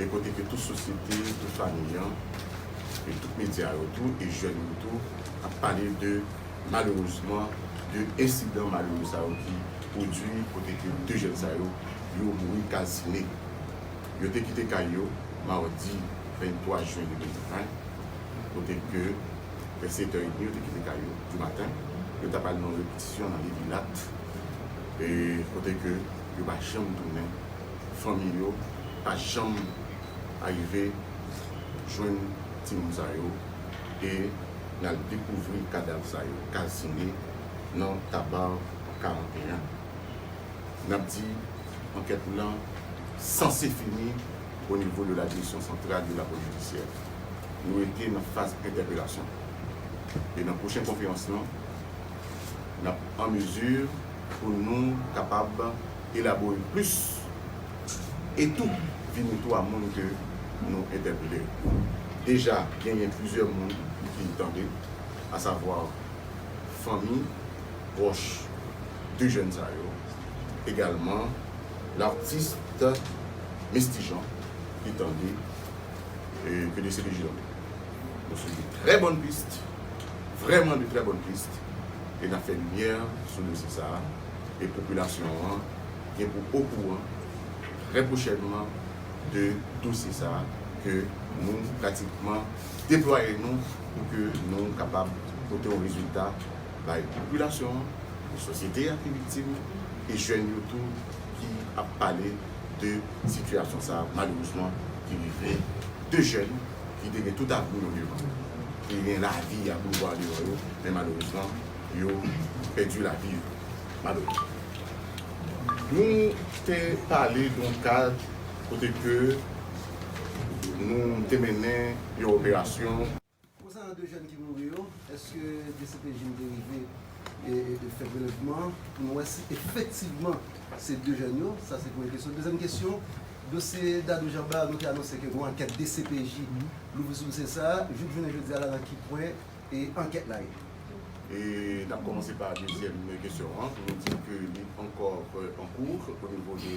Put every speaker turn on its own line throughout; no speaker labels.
e kote ke tout sosyete, tout famiy an, e tout medya yo tou, e jèn yo tou, ap pale de, malerezman, de ensidan malere sa yo ki pwodui kote ke 2 jèn sa yo, yo mouri kalsine. Yo te kite kay yo madi 23 jen 2020, kote ke vè 7 tè edmi yo te kite kay yo di maten, yo ta pral nan yon repetisyon nan Levilat, e kote ke yo pa janm tounen Fanmi yo pa janm arive jwenn timoun sa yo e nal dekouvri kadav sa yo kalsine nan Tabarre 41. Nap di ankèt lan sanse fini o nivo de la Direksyon Santral de la Polis Jidisyè. Nou rete nan faz entèpelasyon e nan pwochen konferans lan nap an mezi Pou nou kapab elabore plis e tou vini tou a moun ke nou entèpele yo. Deja genyen plizyè moun ki tande, a savwa fanmi pwòch 2 jèn sa yo, egalman l'artiste Misty Jean ki tande PDCPJ la. Nou sou de trè bòn pist, vrèman de trè bòn pist, e n ap fè limyè sou dosye sa a, e popilasyon an gen pou okouran trè pwochènman de dosye sa a ke nou pratikman deplwaye nou pou ke nou kapab pote yon rezilta bay popilasyon an, pou sosyete a ki viktim, e jèn yo tou ki ap pale de sitiyasyon sa a malerezman ki rive 2 jèn. ki te gen tout avni yo devan yo, ki te gen lavi ak boulva devan yo, men malerezman, yo pèdi lavi yo, malerezman. Nou te pale doun kad kote ke nou te mennen yon operasyon. Konsanan 2
jèn ki mouri yo, èske dcpj te rive. fè prelèvman an pou nou wè si efektivman se 2 jèn yo, sa se premye kesyon. Dezyèm kesyon, dosye Dadou Jamba a nou te anonse ke gon ankèt dcpj louvri sou dosye sa a, jouk jounen jodi a la nan ki pwen ankèt la ye? E
n ap kòmanse pa dezyèm kesyon an pou nou di ke li ankò an kou o nivo de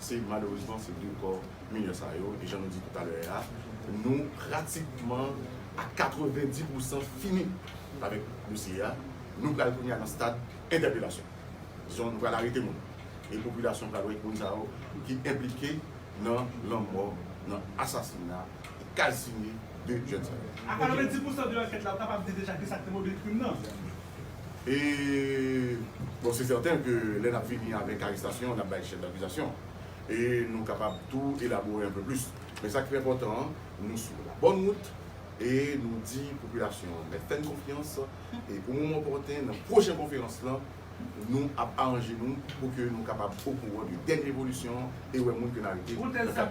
Se malerezman se vre kò minè sa yo e jan nou di toutalè a nou pratikman a 90 pou san fini avèk dosye a, nou pral kounye a nan stad entèpelasyon. Dizon nou pral arete moun e popilasyon pral wè moun sa yo ki enplike nan lanmò, nan asasina. Casimir de Gentilhomme. A 90 pousan
de ankèt la ou kapab di deja kisa k te mobil krim nan? E
bon se sèten ke lè n ap fini avèk arestasyon an n ap bay chèf dakizasyon an. E nou kapab tou elabore anpe plis. Men sa k pi enpòtan an nou sou la bòn wout e nou di popilasyon an mèt fè n konfyans e o moman opòten nan pwochen konferans lan Nou ap aranje nou pou ke nou kapab okouran de dènye evolisyon an e wè moun ke n arete nan kad dosè.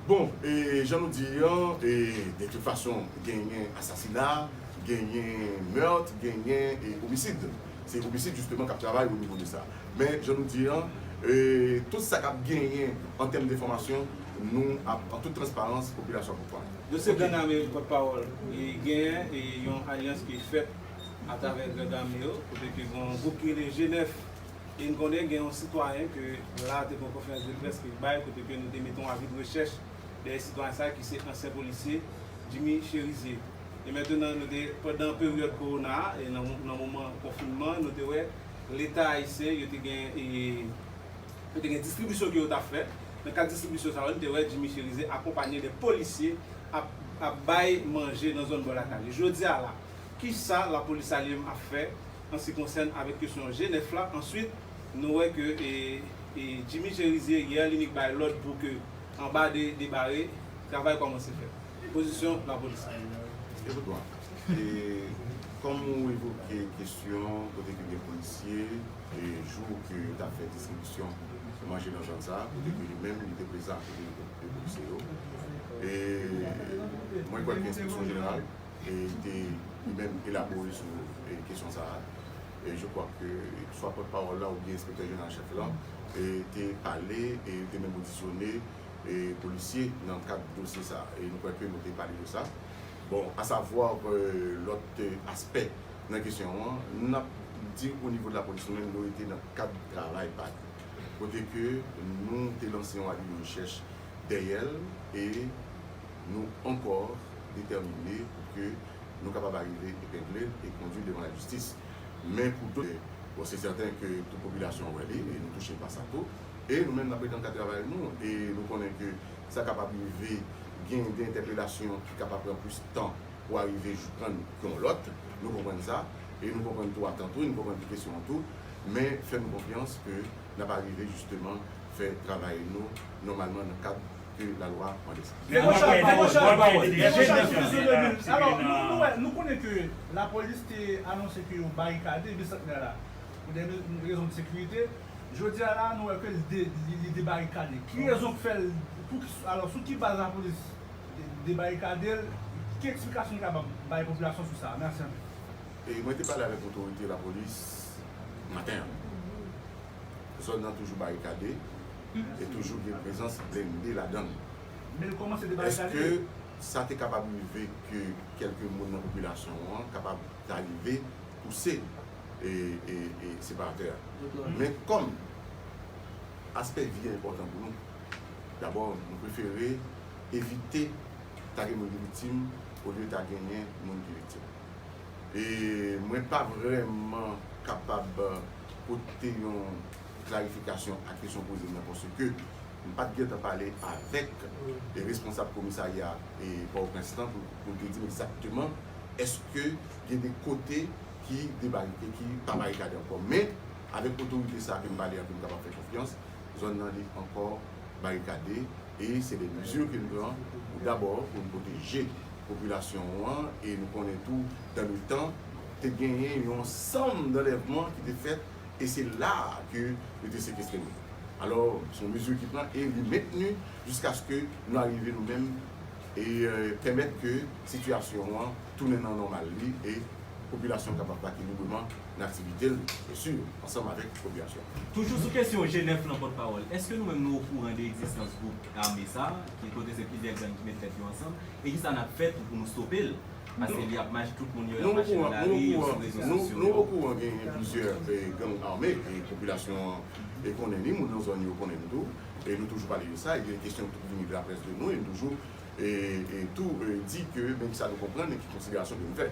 Bon, e
jan nou di li an, e de tout fason genyen asasina, genyen meurtre, genyen homicide. Se homicide justement k ap travay o nivo de sa. Men jan nou di an, e tout sa k ap genyen an tèm de enfòmasyon nou ap an tout transparans popilasyon ap okouran. Yo se gang ame
pot pawol e genyen e yon alyans ki fèt a travè gang ame yo kote ke gon gwoup ki rele G9 e n konnen gen yon sitwayen ke la te gon konferans de près ke l bay kote ke nou te mete yon avi de rechèch dèyè sitwayen sa ki se ansyen polisye Jimmy Cherizier e mentenan nou te pandan peryòd kowona a e nan moman konfinman nou te wè leta ayisyen yo te gen e. Yo te gen distribisyon ke yo ta fè. Nan kad distribisyon sa yo, nou te wè Jimmy Cherizier akonpanye de polisye ap ap bay manje nan zòn bò lakay li. Jodi a la, kisa lapolis Saliem ap fè an si konsène avèk kesyon G9 la? Answit, nou wè ke e Jimmy Cherizier yè li nik bay lòd pou ke anba de de bare, travay kòmanse fèt. Pozisyon lapolis la. Ecoute moi.
E kòm ou evoke kesyon kote ke gen polisye. jou ke yo tap fè distribisyon manje nan zòn sa, kote ke li menm li te prezan ak kote yo te koupe polisye yo. E mwen kwè ke enspeksyon jeneral te li menm elabore sou kesyon sa a. E je kwa ke swa pòt pawòl la oubyen enspektè jeneral an chèf lan te pale e yo te menm odisyone polisye nan kad dosye sa a. E nou kwè ke nou te pale de sa. Bon, asavwa lòt aspè nan kesyon an, n ap di o nivo de lapolis nou menm nou rete nan kad travay pa nou. Kote ke nou te lanse yon avi de rechèch dèyè l e nou ankò detèmine pou ke nou kapab arive epengle l e kondui l devan lajistis. Men pou do, bon se sèten ke tout popilasyon an wè li e nou touche pa sa tou. E nou menm n ap rete nan kad travay nou e nou konnen ke sa kapab rive gen de entèpelasyon ki kapab pran plis tan. pou arive jwenn yon lòt, nou konprann sa, e nou konprann tou atant tou, e nou konprann tou kesyon an tou, men fè nou konfyans ke n ap arive jisteman fè travay nou nòmalman nan kad ke lalwa mande sa. Pi gwo chaj pawòl, pi gwo chaj pawòl, J.
Nevil, alò, nou wè, nou konnen ke lapolis te anonse ke yo barikade Bisantnè la pou dè rezon de sekirite, jodi a la nou wè ke li debarikade, ki rezon k fè l, pou, alò, sou ki baz lapolis? debarikade l, ki eksplikasyon li kapab bay popilasyon sou sa a? Mèsi anpil. E mwen te
pale avèk otorite lapolis maten an. Zòn nan toujou barikade e toujou gen prezans blende ladan l. Men l kòmanse
debarikade? Èske
sa
te
kapab rive ke kèlke moun nan popilasyon an kapab ta rive pouse separatè a? Men kòm aspè vi a enpòtan pou nou. Dabò, nou prefere evite ta gen moun ki viktim olye ta genyen moun ki viktim. E mwen pa vrèman kapab pote yon klarifikasyon a kesyon w poze m nan paske m pa t gen tan pale avèk responsab komisarya Pòtoprens lan pou l te di m egzakteman èske gen de kote ki debarike, ki pa barikade ankò. Men, avèk otorite sa a ke m pale a ke m kapab fè konfyans, zòn nan li ankò barikade e se de mezi ke n pran pou dabò pou n pwoteje popilasyon an e nou konnen tou dan le tan te genyen yon sanm danlèvman ki te fèt e se la a ke yo te sekestre moun alò se yon mezi ki pran e li mentni jiskaske nou arive nou menm e pèmèt ke sitiyasyon an tounen nan nòmal li e popilasyon kapab vake libreman. nan aktivite l byen sur ansanm avèk popilasyon an. Toujou sou kesyon
Jenèf lan pòt pawòl, èske nou menm nou okouran de egzistans gwoup ame sa ki kote se plizyè gang ki met tèt yo ansanm e kisa nap fè tou pou nou stope l paske li ap mach tout moun yo ap mache nan lari yo sou rezo sosyo yo. Nou okouran genyen
plizyè gang ame e popilasyon an e konnen ni moun nan zòn yo konnen l tou e nou toujou pale de sa e gen kesyon tou ki vini de la près de nou e nou toujou e tou di ke men kisa nou konprann e ki konsiderasyon ke nou fè.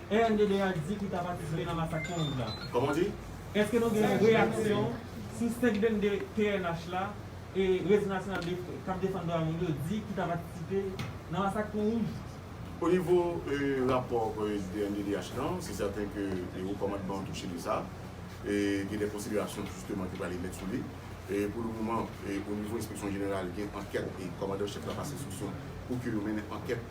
RNDDH di ki ta patisipe nan masak 15 la.
Eske nou gen yon
reyaksyon sou 522 pnh la e Rezo Nasyonal k ap Defann Dwa Moun yo di ki ta patisipe nan masak Pon Wouj? Onivo
rapò rnddh lan, se sèten ke wo kòmandman an touche de sa. Gen de konsiderasyon jisteman ki prale met sou li. Pou le moman, onivo enspeksyon jeneral gen ankèt e kòmandan chèf la pase enstriksyon pou ke yo mennen ankèt.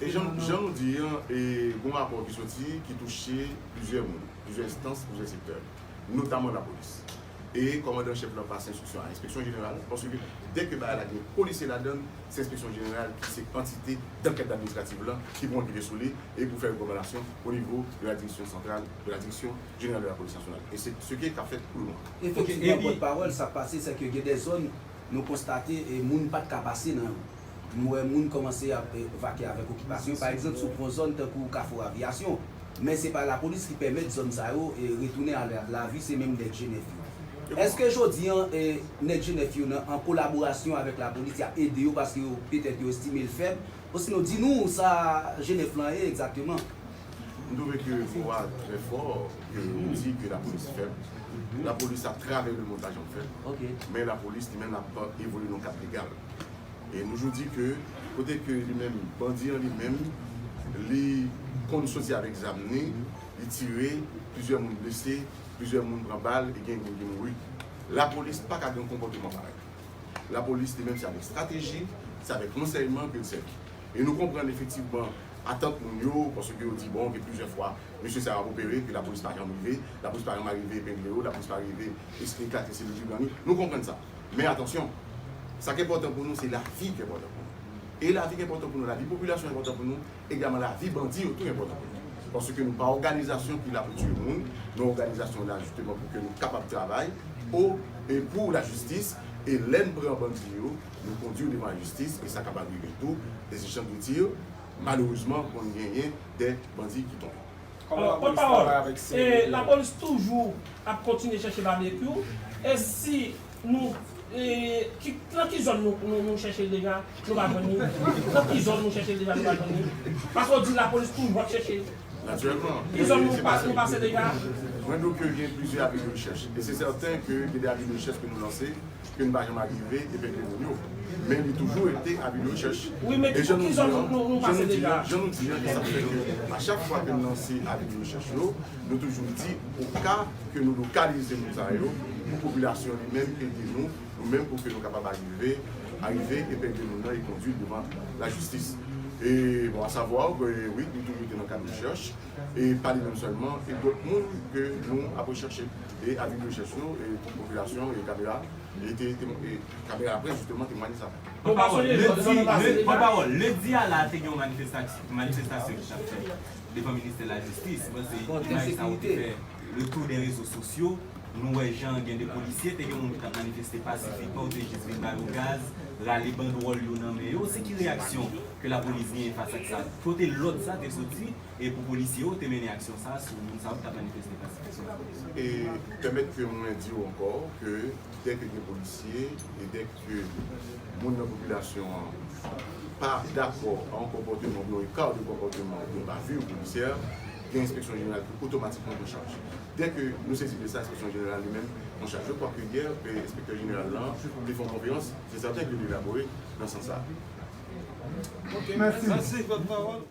E jan nou di
an, gen yon rapò ki soti ki touche plizyè moun, plizyè enstans, plizyè sektè, notaman lapolis. E kòmandan an chèf lan pase enstriksyon a enspeksyon jeneral, paske dè ke bagay la gen polisye ladan l, se enspeksyon jeneral ki se antite dankèt administrativ lan ki pou ankete sou li e pou fè rekòmandasyon o nivo de la direksyon santral, de la direksyon jeneral de la polis nasyonal. E se se ke k ap fèt pou le moman. Efektivman, pòtpawòl,
sa k pase sè ke gen dè zòn. Nou konstate moun pat ka pase nan yo. Nou wè moun kòmanse ap vake avèk okipasyon, pa egzanp sou gwo zòn tankou Kafou Aviyasyon. Men se pa lapolis ki pèmèt zòn sa yo retounen a lavi se menm nèg Jenèf yo. Eske jodi an nèg Jenèf yo nan an kolaborasyon avèk lapolis yap ede yo paske yo petèt yo estime l fèb? Osinon di nou sa Jenèf lan ye egzakteman? M trouve
ke mo a trè fò ke ou di ke lapolis fèb. Lapolis ap travay le montaj an fèt. Men lapolis li menm ap evolye nan kad legal. E nou toujou di ke kote ke li menm bandi an li menm li konn soti avèk zam ni, li tire, plizyè moun blese, plizyè moun pran bal e gen moun ki mouri. Lapolis pa ka gen yon konpòteman parèy. Lapolis li menm se avèk estrateji, se avèk ransèyman ke l sèvi. E nou konprann efektivman. atant moun yo, paske yo di bon gen plizyè fwa mesye sa yo ap opere epi lapolis pa janm rive, lapolis pa janm arive epengle yo, lapolis pa rive eklate selil Dubran yo, nou konprann sa. Men atansyon, sa k enpòtan pou nou se lavi k enpòtan pou nou. E lavi k enpòtan pou nou, lavi popilasyon enpòtan pou nou, egalman lavi bandi yo tou enpòtan pou nou. Paske nou pa òganizasyon ki la pou tiye moun, nou òganizasyon la jisteman pou ke nou kapab travay pou e pou lajistis e lè n pran bandi yo, Nou kondwi w devan lajistis e sa kapab rive tou, les échanges de tirs Malerezman konn genyen dè bandi ki tonbe. Pòt pawòl
e lapolis toujou ap kontinye chèche Babekyou e si nou e nan ki zòn nou chèche l deja nou pa jwenn li nan ki zòn nou chèche l deja nou pa jwenn li paske w di lapolis toujou ap chèche l Natirèlman ki
zòn nou
pase deja. Mwen di w ke gen
plizyè avi de rechèch e se sèten ke gen de avi de rechèch ke nou lanse. Ske n pa janm arive epengle moun yo. Men li toujou rete avi de rechèch. E jan nou di an, jan
nou di an, jan nou di an, e sa k fè
ke a chak fwa ke n lanse avi de rechèch yo, nou toujou di oka ke nou lokalize moun sa yo pou popilasyon li menm ede nou, nou menm pou ke nou kapab arive, arive epengle moun nan e kondui l devan lajistis. E bon a savwa ke wi, li toujou rete nan kad rechèch, e pa li menm sèlman, e dòt moun ke nou ap rechèche. E avi de rechèch yo pou popilasyon e kamera e te kamera laprès jisteman temwanye sa. Pran pawòl Pran pawòl
Lendi a la te gen yon manifestasyon manifestasyon ki tap fèt devan ministè lajistis mwen panse imaj sa yo te fè le tour dè rezo sosyo nou wè jan gen de polisye te gen moun ki tap manifeste pasifikman yo te jis vin ba yo gaz rale bandwòl yo nan men yo se ki reyaksyon ke lapolis genyen fas ak sa kote lòd sa te soti. e pou polisye yo te mennen aksyon sa sou moun sa yo ki tap manifeste pasifikman.
E pèmèt ke mwen di ou ankò ke dè ke gen polisye e dè ke moun nan popilasyon an pa dakò a yon konpòteman oubyen yon eka de konpòteman oubyen yon bavure policière, gen enspeksyon jeneral ki otomatikman pran chaj. Dè ke nou sezi de sa enspeksyon jeneral li menm pran chaj. Je kwa ke yè enspektè jeneral la te fè yon konferans, se sèten ke li te elabore nan sans sa.
Ok, mèsi.